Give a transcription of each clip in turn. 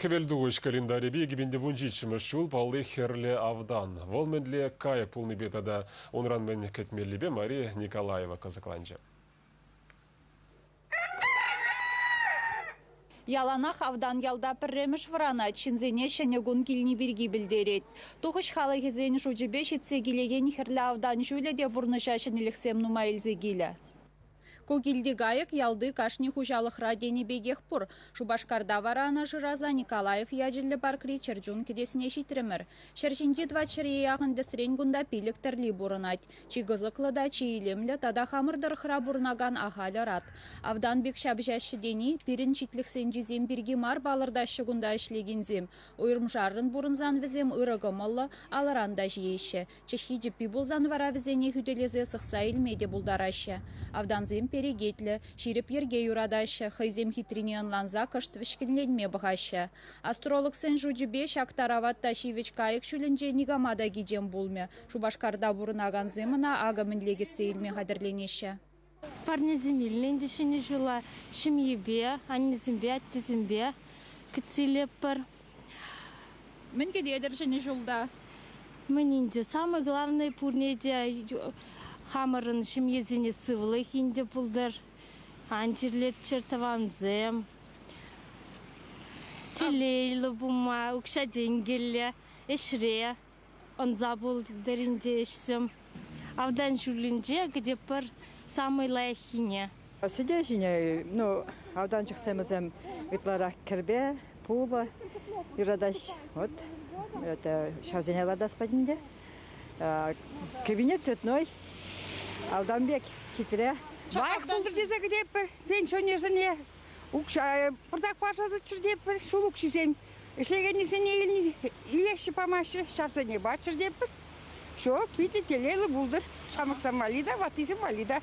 Хӗвелтухӑҫ календарӗпе иккӗмӗн вунҫиччӗмӗш ҫул палли Хӗрлӗ Автан. Вӑл мӗнле кайӑк пулнипе тата унран мӗн кӗтмеллипе Мария Николаева кӑсӑкланчӗ. Яланах автан ялта пӗрремӗш вӑранать, ҫынсене ҫӗнӗ кун килни пирки пӗлтерет. Тухӑҫ халӑхӗсен шучӗпе ҫитсе килекен Хӗрлӗ Автан ҫулӗ те пурнӑҫа ҫӗнӗлӗхсем нумай илсе килӗ. Ку килти кайӑк ялти кашни хуҫалӑхра тенӗ пекех пур. Шупашкарта вара ӑна шыраса Николаев ячӗллӗ паркри чӗрчун кӗтесне ҫитрӗмӗр. Ҫӗр ҫинчи тӑватҫӗре яхӑн тӗсрен кунта пилӗк тӗрли пурӑнать. Чи кӑсӑклӑ та чи илемлӗ тата хамӑр тӑрӑхра пурӑнакан ахаль ӑрат. Автан пек ҫапӑҫаҫҫӗ тени пирӗн ҫитлӗхсенчисем пирки мар палӑртаҫҫӗ кунта ӗҫлекенсем. Уйрӑмшаррӑн пурӑнсан вӗсем ырӑ кӑмӑллӑ, алӑран та ҫиеҫҫӗ, Чӑххи чӗппи пулсан вара вӗсене хӳтӗлесе сӑхса илме те пултараҫҫӗ. Автансем перекетлӗ, ҫирӗп йӗрке юратаҫҫӗ, хӑйсем хитрине ӑнланса кӑшт вӗҫкӗнленме пӑхаҫҫӗ. Астрологсен шучӗпе ҫак тарават та ҫивӗч кайӑк ҫулӗнче никама та кичем пулмӗ. Шупашкарта пурӑнакансем ӑна акӑ мӗнле кӗтсе илме хатӗрленеҫҫӗ. Парнесем илнӗ ӗнтӗ Ҫӗнӗ ҫула ҫемьепе, аннесемпе, аттесемпе кӗтсе илетпӗр. Мӗн кӗтетӗр Ҫӗнӗ ҫулта? Мӗн те, самое главное пурне те хамӑрӑн ҫемьесене сывлӑх инҫе пултӑр, ан чирлеччӗр тӑвансем. Телейлӗ пулма, укҫа-тенкӗллӗ ӗҫре ӑнса пултӑр ӗнтӗ ӗҫсем. Автан ҫуллинче кӗтӗ пӗр самый лайӑххине. Сӗтел ҫине ну, автанчӑк сӗмӗсем ытларах кӗрпе, пулӑ юратаҫ. Вот это ҫавсене латас патӗнче. Кабинет цветной. Алдамбек хитре. Лайӑх пултӑр тесе кӗтетпӗр пенсионерсене. укҫа пӑртак пашатчӗр те пӗр ҫул укҫисем ӗҫлекеннисене илеҫҫӗ памаҫҫӗ ҫарсене паччӑр те пӗр все питӗ телейлӗ пултӑр ҫамрӑксем валли та ваттисем валли та.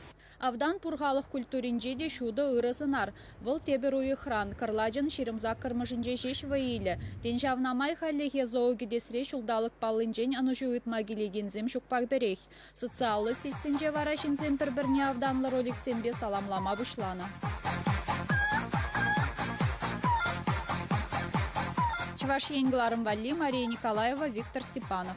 Автан пур халӑх культуринче те ҫутӑ ырӑ сӑнар. Вӑл тепӗр уйӑхран, кӑрлачӑн ҫирӗм саккӑрмӗшӗнче ҫеҫ вӑй илӗ. Тен, ҫавна май хальлӗхе зоокӗтесре ҫулталӑк паллинчен ӑнӑҫу ыйтма килекенсем ҫукпах пӗрех. Социаллӑ сетьсенче вара ҫынсем пӗр-пӗрне автанлӑ роликсемпе саламлама пуҫланӑ. Чӑваш Ен кӑларӑм валли Мария Николаева, Виктор Степанов.